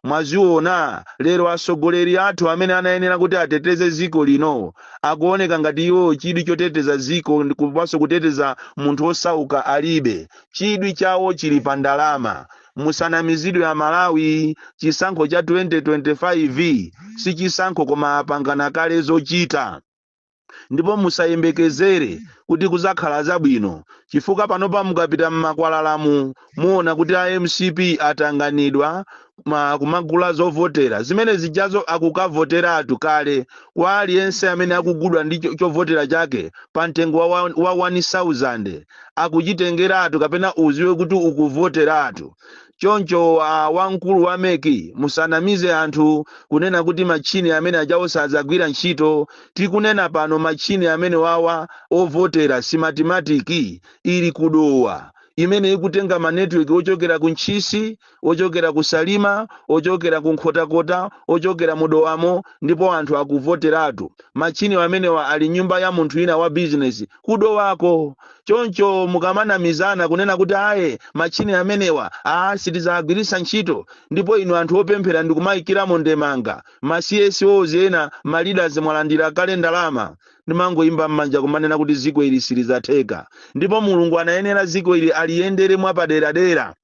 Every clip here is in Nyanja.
Mwaziona, lero atsogoleri athu amene anayenera kuti ateteze dziko lino akuoneka ngati iwo chidwi choteteza dziko komanso kuteteza munthu wosauka alibe. Chidwi chawo chili pa ndalama. Musanamizidwe Amalawi, chisankho cha 2025 si chisankho koma apangana kale zochita. ndipo musayembekezere kuti kuzakhala zabwino chifukwa panopa mukapita mmakwalalamu muona kuti a mcp atanganidwa kumagula zovotera zimene zijazo akukavoteratu kale kwa aliyense amene akugulidwa ndi chovotera chake pa mtengo wa 1000 akuchitengeratu kapena uziwe kuti ukuvoteratu choncho wamkulu wa mec musanamize anthu kunena kuti matchini amene ajawo sadzagwira ntchito. tikunena pano matchini amenewawa ovotera Smartmatic ili ku dowa imene ikutenga ma network ochokera ku ntchisi ochokera ku salima ochokera ku nkhotakota ochokera mu dowamo ndipo anthu akuvoteratu. matchini amenewa ali m'nyumba ya munthu wina wa business kudowako choncho mukamanamizana kunena kuti aye matchini amenewa a sitizawagwiritsa ntchito ndipo inu anthu opemphera ndikumayikiramo ndemanga ma CSOs ena ma leaders mwalandira kale ndalama ndikumangoyimba m'manja kumanena kuti ziko ili silizatheka ndipo mulungu anayenera ziko ili aliyendere mwapaderadera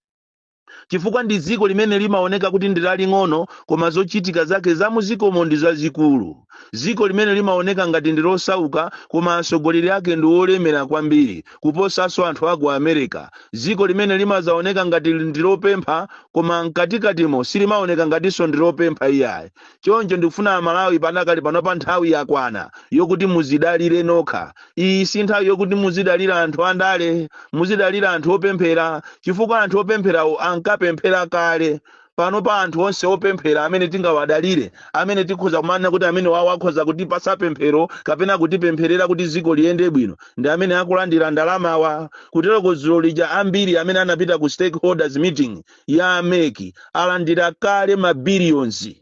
chifukwa ndi dziko limene limaoneka kuti ndi laling'ono koma zochitika zake za muzikomo ndi zazikulu dziko limene limaoneka ngati ndi losauka koma atsogoleri ake ndi olemera kwambiri kuposanso anthu a ku america dziko limene limazaoneka ngati ndi lopempha koma mkatikatimo silimaoneka ngatinso ndi lopempha iyayi choncho ndikufuna amalawi padakali panopa nthawi yakwana yokuti muzidalire nokha iyi si nthawi yokuti muzidalira anthu andale muzidalira anthu opemphera chifukwa anthu opempherawo ankapemphera kale panopa anthu onse opemphera amene tingawadalire amene tikhoza kumanena kuti amenewawo akhoza kutipasa pemphero kapena kutipempherera kuti dziko liyende bwino ndi amene akulandira ndalamawa kuteroko dzulo lija ambiri amene anapita ku stakeholders meeting ya a meki alandira kale mabiliyonzi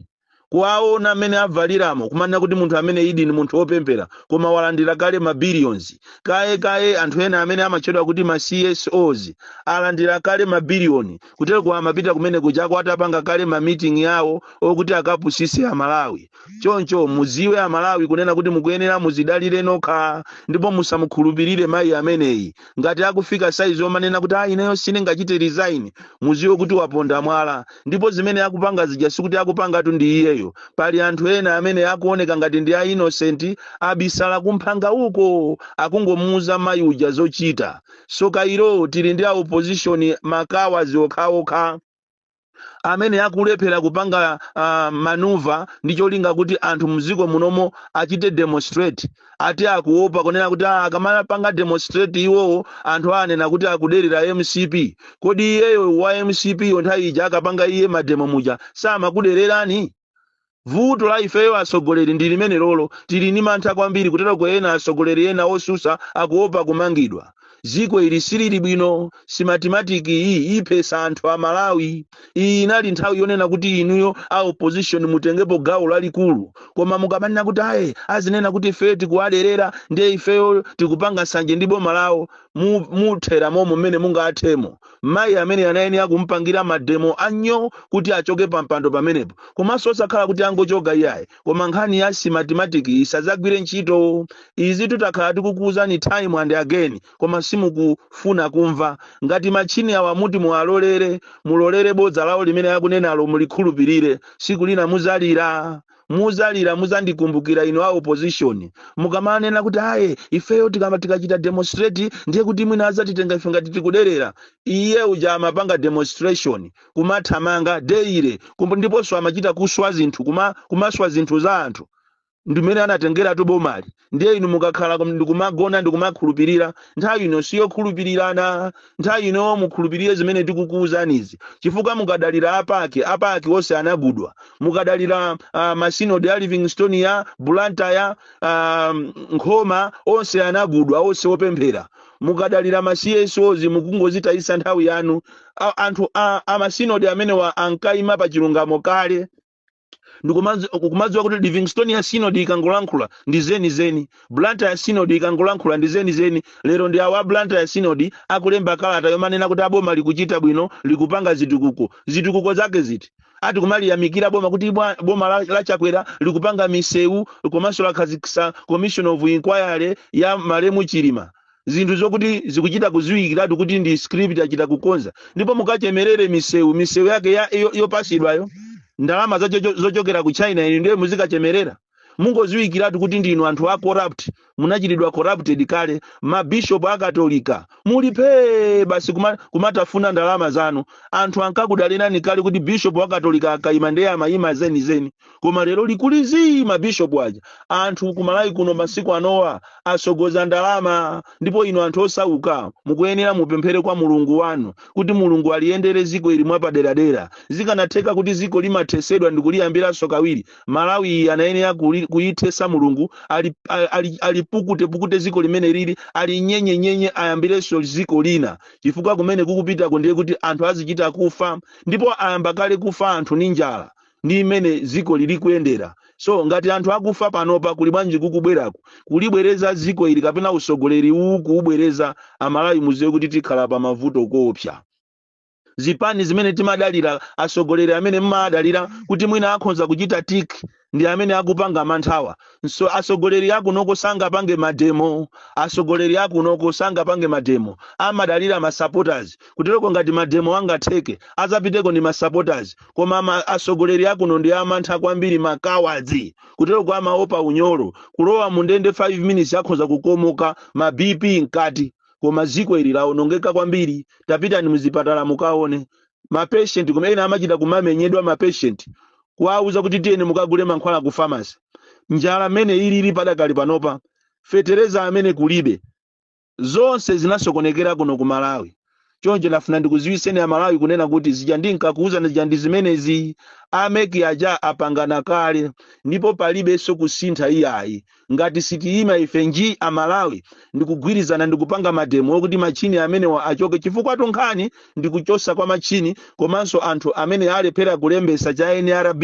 kuwaona mmene avaliramo kumanena kuti munthu ameneyidi ndi munthu wopemphera koma walandira kale ma billions kaye kaye anthu ena amene amatchedwa kuti ma csos alandira kale ma billion kuteroko amapita kumene kujako atapanga kale ma meeting yawo okuti akapusise amalawi choncho muziwe amalawi kunena kuti mukuyenera muzidalire nokha ndipo musamukhulupirire mayi ameneyi ngati akufika saizi omanena kuti ayi ineyo sindingachite resign muziwe kuti waponda mwala ndipo zimene akupanga zija sikuti akupangatu ndi iyeyo pali anthu ena amene akuoneka ngati ndi a innocent abisala kumphanga uko akungomuuza mayi uja zochita zoka iro tili ndi a opposition makawazi okhaokha amene akulephera kupanga uh, manuva ndi cholinga kuti anthu mdziko munomo achite demonstrate ati akuopa kunena kuti "Ah, akamapanga demonstrate iwowo anthu anena kuti akuderera mcp kodi iyeyo wa mcp yo nthawi ija akapanga iye mademo muja samakudererani vuto la ifeyo atsogoleri ndi limene lolo tili ndi mantha kwambiri kutero kuti ena atsogoleri ena osusa akuopa kumangidwa dziko ili silili bwino Smartmatic iyi iphesa anthu a malawi iyi inali nthawi yonena kuti inuyo a opposition mutengepo gawo lalikulu koma mukamanena kuti aye azinena kuti ifeyo tikuwaderera ndiye ifeyo tikupanga nsanje ndi boma lawo mu- muthera momo mmene mungathemo mayi amene anayenera kumpangira mademo anyooo kuti achoke pampando pamenepo komanso osakhala kuti angochoka iyayi koma nkhani ya Smartmatic isadzagwire ntchito izi takhala tikukuwuzani time and again koma simukufuna kumva ngati matchini awa muti muwalolere mulolere bodza lawo limene akunenalo mulikhulupirire siku lina muzalira muzalira muzandikumbukira inu a opposition mukamanena kuti aye ifeyo tikama tikachita demonstrate ndiye kuti mwina azatitenga ife ngati tikuderera iye uja amapanga demonstration kumathamanga daily kumbu- ndiponso amachita kuswa zinthu kuma, kumaswa zinthu za anthu ndimene anatengeratu bomali ndiye inu mukakhala kum- ndikumagona ndikumakhulupirira nthawi ino siyokhulupirirana nthawi ino mukhulupirire zimene tikukuwuzanizi chifukwa mukadalira a PAC a PAC onse anagudwa mukadalira uh, masinodi a livingstonia blantyre uh, nkhoma onse anagudwa onse opemphera mukadalira ma CSOs mukungozitayisa nthawi yanu A- anthu a, a masinodi amenewa ankayima pa chilungamo kale ndikumazi- kumadziwa kuti livingstonia synod ikangolankhula ndi zeni zeni blantyre synod ikangolankhula ndi zeni zeni lero ndi awa blantyre synod akulemba kalata yomanena kuti a boma likuchita bwino likupanga zitukuko zitukuko zake ziti ati kumaliyamikira boma kuti bwa- boma la, la chakwera likupanga misewu komanso lakhazikisa commission of inquiry ya malemu chilima zinthu zokuti zikuchita kuziwikiratu kuti ndi script achita kukonza ndipo mukachemerere misewu misewu yake ya, yo, yopasidwayo ndalama zacho- zochokera ku china inu ndiye muzikachemerera mungoziwikiratu kuti ndinu anthu a corrupt munachitidwa corrupted kale mabishop akatolika muli phee basi kuma, kumatafuna ndalama zanu anthu ankakudalirani kale kuti bishop wakatolika akaima ndiye amayima zenizeni koma lero likuliziii mabishopu aja anthu kumalawi kuno masiku anowa asogoza ndalama ndipo inu anthu osauka mukuyenera mupemphere kwa mulungu wanu kuti mulungu aliyendere ziko ili mwapaderadera zikanatheka kuti ziko limathesedwa ndikuliyambiranso kawiri malawi iyi anayenera kuyithesa mulungu alipukutepukute ziko limene lili alinyenyenyenye ayambirenso ziko lina chifukwa kumene kukupitako ndiye kuti anthu azichita kufa ndipo ayamba kale kufa anthu ni njala ndi mmene ziko lili kuyendera so ngati anthu akufa panopa kuli bwanji kukubwerako kulibwereza dziko ili kapena usogoleri uwu kuubwereza amalawi muziwe kuti tikhala pa mavuto koopsa zipani zimene timadalira asogoleri amene mmadalira kuti mwina akhonza kuchita tik ndi amene akupanga manthawa so asogoleri akunoko sangapange mademo asogoleri akunoko sangapange mademo amadalira masupporters kutereko ngati mademo angatheke azapiteko ndi masupporters koma asogoleri akuno ndi amantha kwambiri makawadzi kutereko amaopa unyolo kulowa mu ndende 5 minutes akhonza kukomoka ma bp mkati koma ziko ili laonongeka kwambiri tapitani muzipatala mukaone mapatient mmene amachita kumamenyedwa mapatient kuwauza kuti tiyeni mukagule mankhwala ku pharmacy njala mmene ilili padakali panopa fetereza mmene kulibe zonse zinasokonekera kuno ku malawi choncho nafuna ndikuziwiseni amalawi kunena kuti zija ndinkakuwuzani zija ndi zimenezi ameki aja apangana kale ndipo palibenso kusintha iyayi ngati sitiyima ife nji amalawi ndikugwirizana ndikupanga mademo okuti machini amenewa achoke chifukwatu nkhani ndikuchosa kwa machini komanso anthu amene alephera kulembesa cha nrb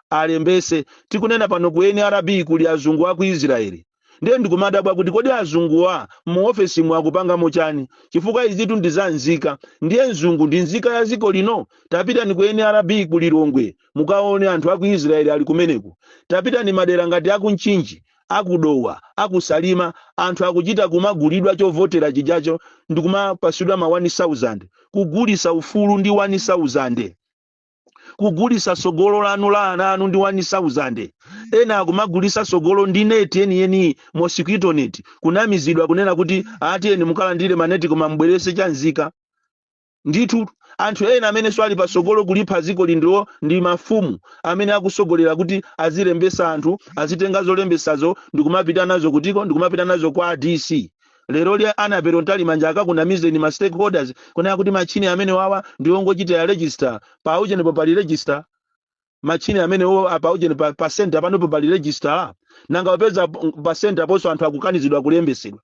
alembese tikunena pano ku nrb kuli azungu aku israeli ndiye ndikumadabwa kuti kodi azunguwa mu ofesi mu akupangamo chani chifukwa izitu ndi za nzika ndiye mzungu ndi nzika ya ziko lino tapitani ku nrb ku lilongwe mukaone anthu aku israeli ali kumeneku tapitani madera ngati aku nchinji akudowa akusalima anthu akuchita kumagulidwa chovotera chijacho ndikumapasidwa ma 1000 kugulisa ufulu ndi 1000 kugulisa sogolo lanu la ana anu ndi 1000 ena akumagulisa sogolo ndi neti yeniyeni mosquito net kunamizidwa kunena kuti a tiyeni mukalandire maneti koma mbwerese cha nzika ndithu anthu ena amenenso ali pasogolo kulipha ziko lino ndi mafumu amene akusogolera kuti azilembesa anthu azitenga zolembesazo ndikumapita nazo kutiko ndikumapita nazo kwa dc lero lya Annabel Mtalimanja akakunamizeni ma stakeholders kunena kuti machine amenewawa ndiongochitira register pa ujeni popanga register machine amenewo apa ujeni pa, pa center panopo pali register nanga ukupeza p- pa center ponso anthu akukanizidwa kulembetsedwa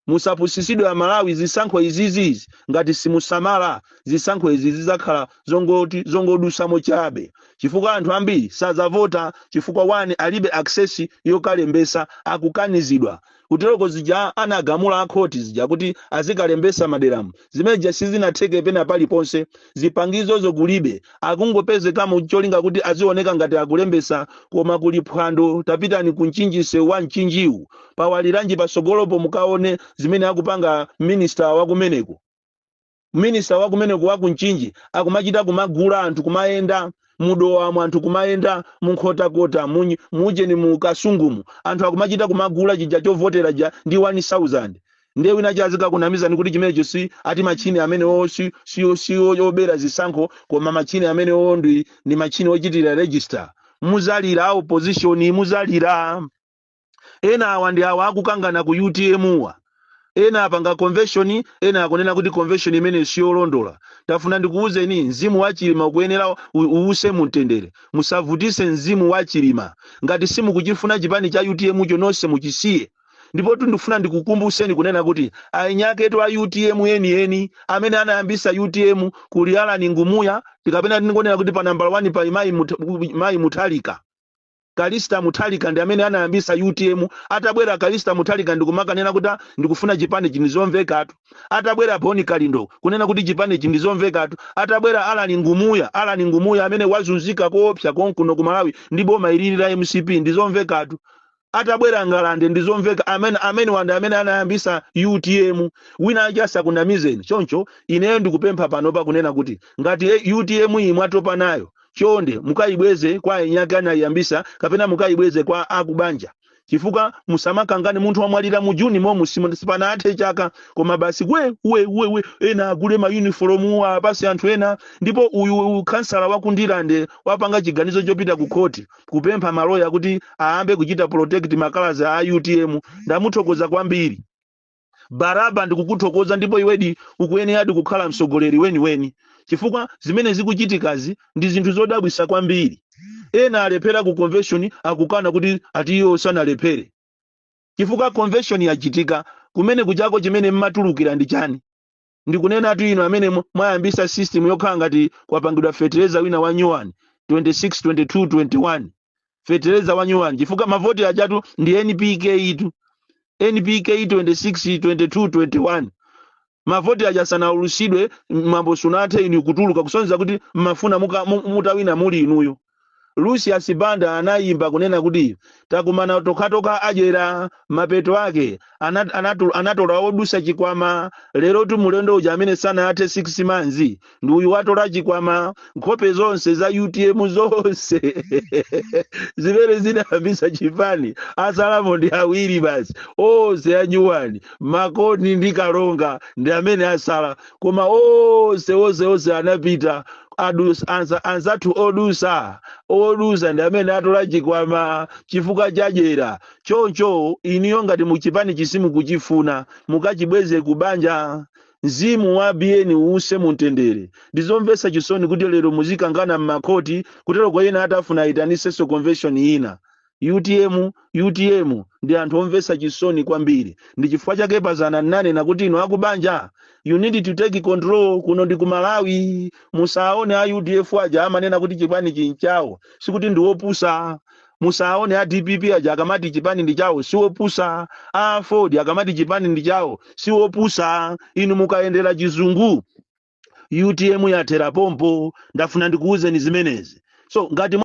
musapusisidwe amalawi zisankho izizizi ngati simusamala zisankho izi zizakhala zongoti zongodusamo chabe chifukwa anthu ambiri sazavota chifukwa wani alibe access yokalembesa akukanizidwa kuteroko zija anagamula a khoti zija kuti azikalembesa maderamu zimene zijazi sizinatheke pena paliponse zipangizozo kulibe akungopezekamo cholinga kuti azioneka ngati akulembesa koma kuli phwando tapitani ku mchinji msewu wa mchinjiwu pawaliranji pasogolopo mukaone zimene akupanga minista wakumeneko minista wa kumeneko wa ku mchinji akumachita kumagula anthu kumayenda mudowamo anthu kumayenda munkhotakota munyi- mujeni mu kasungumu anthu akumachita kumagula chija chovotera ja ndi 1000 ndiye wina azikakunamizani kuti chimenecho si ati machini amenewo si si- si obera zisankho koma machini amenewo ndi ndi machini ochitira register muzalira a opposition muzalira ena awa ndi awa akukangana ku utmwa ena apanga convention ena akunena kuti convention imeneyi siyolondola tafuna ndikuwuzeni mzimu wa chilima ukuyenera u- uwuse mumtendere musavutise mzimu wa chilima ngati simukuchifuna chipani cha utmcho nonse muchisiye ndipo ndifuna ndikukumbuseni kunena kuti eni aketu a utm enieni amene anayambisa utm kuli Allan Ngumuya kapena tingonena kuti pa nambala 1 pa mayi Mut- mayi Mutharika Callista Mutharika ndi amene anayambisa utm atabwera Callista Mutharika ndikumakanena kuti a ndikufuna chipanichi ndizomvekatu atabwera Bon Kalindo kunena kuti chipanichi ndizomvekatu atabwera Allan Ngumuya Allan Ngumuya amene wazunzika koopsa konkuno ku Malawi ndi boma ilili la mcp ndizomvekatu atabwera Ngalande ndizomveka amene amenewa nda amene anayambisa utm wina aja asakunamizeni choncho ineyo ndikupempha panopa kunena kuti ngati eh, utm iyi mwatopa nayo chonde mukayibweze kwa eni ake anayiyambisa kapena mukayibweze kwa akubanja chifukwa musamakangane munthu wamwalira mu juni momu si- sipanathe chaka koma basi we we we we ena agule mayunifolomu apase anthu ena ndipo uyu uyu khansala wa kundirande wapanga chiganizo chopita ku khoti kupempha maloya kuti ayambe kuchita protect makalazi a utm ndamuthokoza kwambiri baraba ndikukuthokoza ndipo iwedi ukuyeneradi kukhala mtsogoleri weniweni chifukwa zimene zikuchitikazi ndi zinthu zodabwisa kwambiri ena alephera ku convention akukana kuti ati iwo sanalephere chifukwa convention yachitika kumene kuchako chimene mmatulukira ndi chani ndikunenatu inu amene mwa- mwayambisa system yokhala ngati kwapangidwa fetereza wina wa nyuwani 26 22 21 fetereza wa nyuwani chifukwa mavoti ajatu ndi npk itu npk 26 22 21 mavoti aja sanaulutsidwe mwambo sunathe inu kutuluka kusonyeza kuti mmafuna muka- mu- mutawina muli inuyo lucius banda anayimba kunena kuti takumana tokhatokha adyera mapeto ake ana- anatu- anatola odusa chikwama lerotu mulendo uja amene sanathe 6 months ndi uyu watola chikwama nkhope zonse za utm zonse zimene zinayambisa chipani asalamo ndi awiri basi onse a nyuwani makoni ndi kalonga ndi amene asala koma onse onse onse anapita adus- anza- anzathu odusa odusa ndi amene atola chikwama chifukwa chadyera choncho inuyo ngati chipanichi simukuchifuna mukachibweze ku banja mzimu wa biyeni uwuse mumtendere ndizomvetsa chisoni kuti lero muzikangana m'makhoti kuti aloke ena atafuna aitanisenso convention ina utm utm ndi anthu omvetsa chisoni kwambiri ndi chifukwa chake pa dzana nnanena kuti inu akubanja you need to take control kuno ndi ku malawi musaone a udf aja amanena kuti chipanichi nchawo sikuti ndi wopusa musaone a dpp aja akamati chipani ndi chawo si wopusa a aford akamati chipani ndi chawo si wopusa inu mukayendera chizungu utm yathera pompo ndafuna ndikuwuzeni zimenezi so ngati